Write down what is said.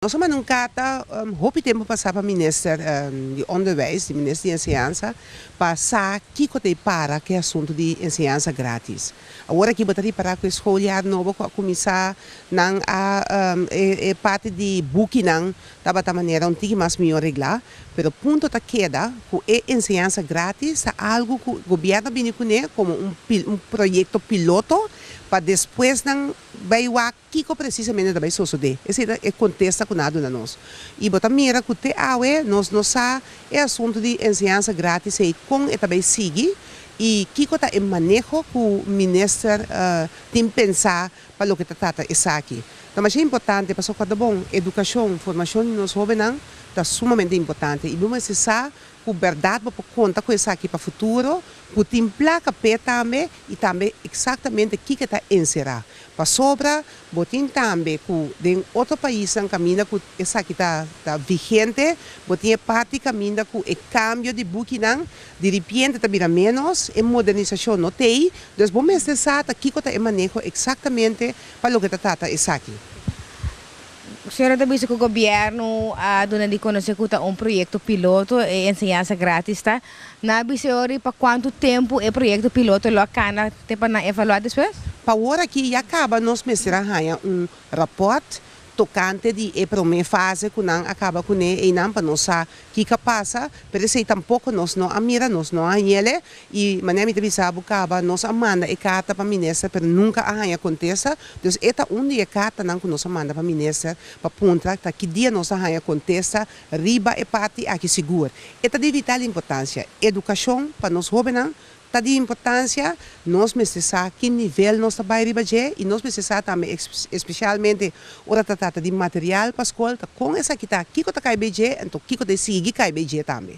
Nos a manda un karta hopi tempu pasá pa minister di Onderwijs, di minister di Enseñansa, pa sa kiko ta e para ku e asuntu di enseñansa grátis. Awor aki bo ta ripará ku e skooljaar nobo ku a kuminsá, nan a e parti di bukinan tabata manera un tiki mas mihó reglá, pero punto ta keda ku e enseñansa grátis ta algu ku gobièrnu a bini kuné komo un proyekto piloto pa despues nan bai wak. Kiko presisamente ta bai sosodé? Esei ta e kontesta ku nan a duna nos. I bo ta mira ku te awe nos no sa e asuntu di enseñansa gratis ei kon e ta bai sigui i kiko ta e maneho ku minister tin pensá pa loke ta trata esaki. Ta masha importante pasobra kòrdabon edukashon, formashon di nos hóbennan ta sumamente importante i bo mester sa Ku bèrdat bo por konta ku esaki pa futuro, ku tin plaka p'e tambe i tambe eksaktamente kiko e ta enserá. Pasobra bo tin tambe ku den otro paisnan kaminda ku esaki ta ta vigente, bo tin e parti kaminda ku e kambio di bukinan diripiente ta bira ménos, e modernisashon no t'ei, dus bo mester sa ta kiko ta e maneho eksaktamente pa loke ta trata esaki. Sora ta bisa cu gobierno a duna di conoce cu ta un proyecto piloto e enseñansa gratis ta, nan a bisa e ora y pa cuanto tempo e proyecto piloto lo a cana te pa nan evalua despues? Pa awor aki ya caba nos mester a haya un raport tocante di e prome fase cu nan a caba cune eynan pa nos sa kico a pasa, pero esey tampoco nos no a mira, nos no a heye I manera mi ta bisa bo caba, nos a manda e carta pa minister pero nunca a haya contesta, dus e ta un di e cartanan cu nos a manda pa minister pa puntra ta ki dia nos ta haya contesta riba e parti aki sigur. E ta di vital importancia. Educacion pa nos hobennan ta di importancia, nos mester sa ki nivel nos ta bay riba dje y nos mester sa tambe especialmente ora ta trata di material pa school ta con esaki ta, kico ta cay bay dje enton kico ta e sigui cay bay dje tambe.